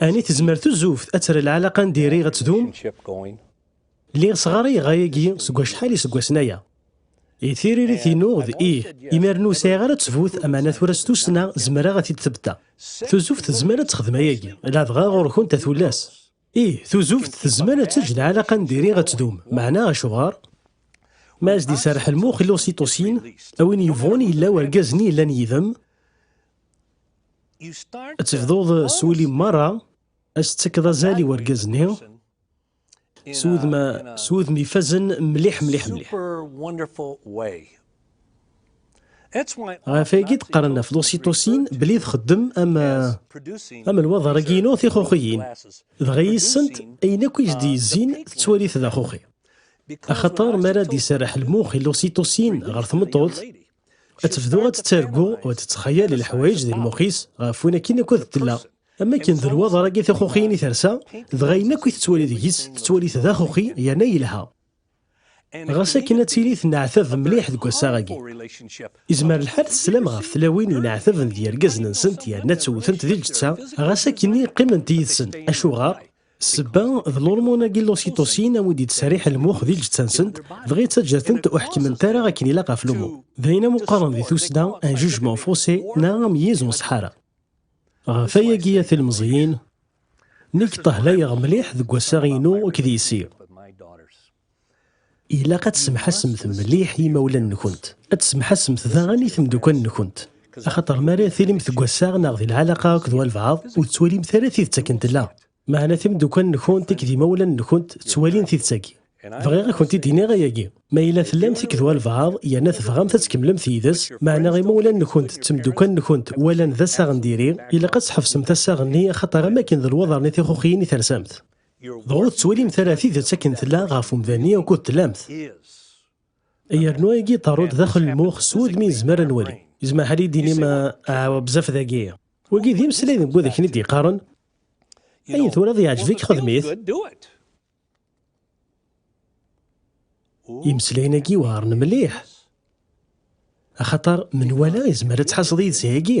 Ani tezmer tuzuft ad terr lɛalaqa n diri ad tdum? Lliɣ sɣaray ɣayagi seg wacḥal iseggasen aya. I tiririt-inu d ih, imir-n ur sɛiɣ ara ttbut, amana tura s tussna zemreɣ ad t-id-ttebteɣ. Tuzuft tezmer ad texdem ayagi, ladɣa ɣur-kent a tullas. Ih, tuzuft tezmer ad teǧǧ lɛalaqa n diri ad tdum, meɛna acuɣer? Ma as-d-iserreḥ lmux i l'ocytocine, a win yebɣun yella wergaz-nni yellan yid-m, Ad tebduḍ s wul-im merra, ad s-tettakeḍ azal i wergaz-nni s wudem, s wudem ifazen mliḥ mliḥ mliḥ. Ɣef wayagi d-qqaren ɣef l'ocytocine belli txeddem am, am lwaḍer-agi-inu tixuxiyin, dɣa yis-sent ayen akk i s-d-yezzin tettwali-t d axuxi. Axaṭer m'ara d-iserreḥ lmux i l'ocytocine ɣer tmeṭṭut, ad tebdu ad tettargu u ad tettxayal leḥwayeǧ di lmux-is ɣef win akin akk ad tella am akken d lwaḍer-agi tixuxiyin i tersa dɣa ayen akk i tettwali deg-s tettwali-t d axuxi yerna yelha ɣas akken ad tili tenneɛtab mliḥ deg wassaɣ-agi izmer lḥal teslam ɣef tlawin yenneɛtaben d yergazen-nsent yerna ttewtent di lǧetta ɣas akken-nni qqiment yid-sen acuɣer Sebba d lurmuna-agi lusiṭusin awi d-yettserriḥ lmux di lǧetta-nsent, dɣa yettaǧǧa-tent ur ḥekkment ara akken ilaq ɣef lumu. D ayen am uqqaren di tusna un jugement faussé neɣ ameyyez n uṣeḥḥara. Ɣef ayagi a tilmeẓyin, nekk ṭehlayeɣ mliḥ deg wassaɣ-inu akked yessi. Ilaq ad tsemḥasemt mliḥ i yimawlan-nkent. Ad tsemḥasemt daɣen i temdukal-nkent. Axaṭer mi ara tilimt deg wassaɣ neɣ di lɛalaqa akked walbeɛḍ, ur tettwalimt ara tidet akken tella. Meɛna timdukal-nkent akked yimawlan-nkent ttwalin tidet-agi. Bɣiɣ ad kent-id-iniɣ ayagi. Ma yella tellamt akked walbeɛḍ yerna tebɣamt ad tkemmlemt yid-s, meɛna imawlan-nkent d temdukal-nkent walan d assaɣ n diri, ilaq ad tḥebsemt assaɣ-nni axaṭer am wakken d lwaḍer n tixuxiyin i tersamt. Dɣa ur tettwalimt ara tidet akken tella ɣef umdan-nni ukud tlamt. Yernu ayagi iṭerru-d daxel lmux s wudem i nezmer ad nwali. Yezmer ḥal i d-tinim, Aw, bezzaf dagi! Wagi d imeslay n wid akken i d-yeqqaren, Ayen twalaḍ yeɛjeb-ik, xdem-it! Imeslayen-agi weɛren mliḥ, axaṭer menwala yezmer ad tḥasseḍ yid-s ayagi.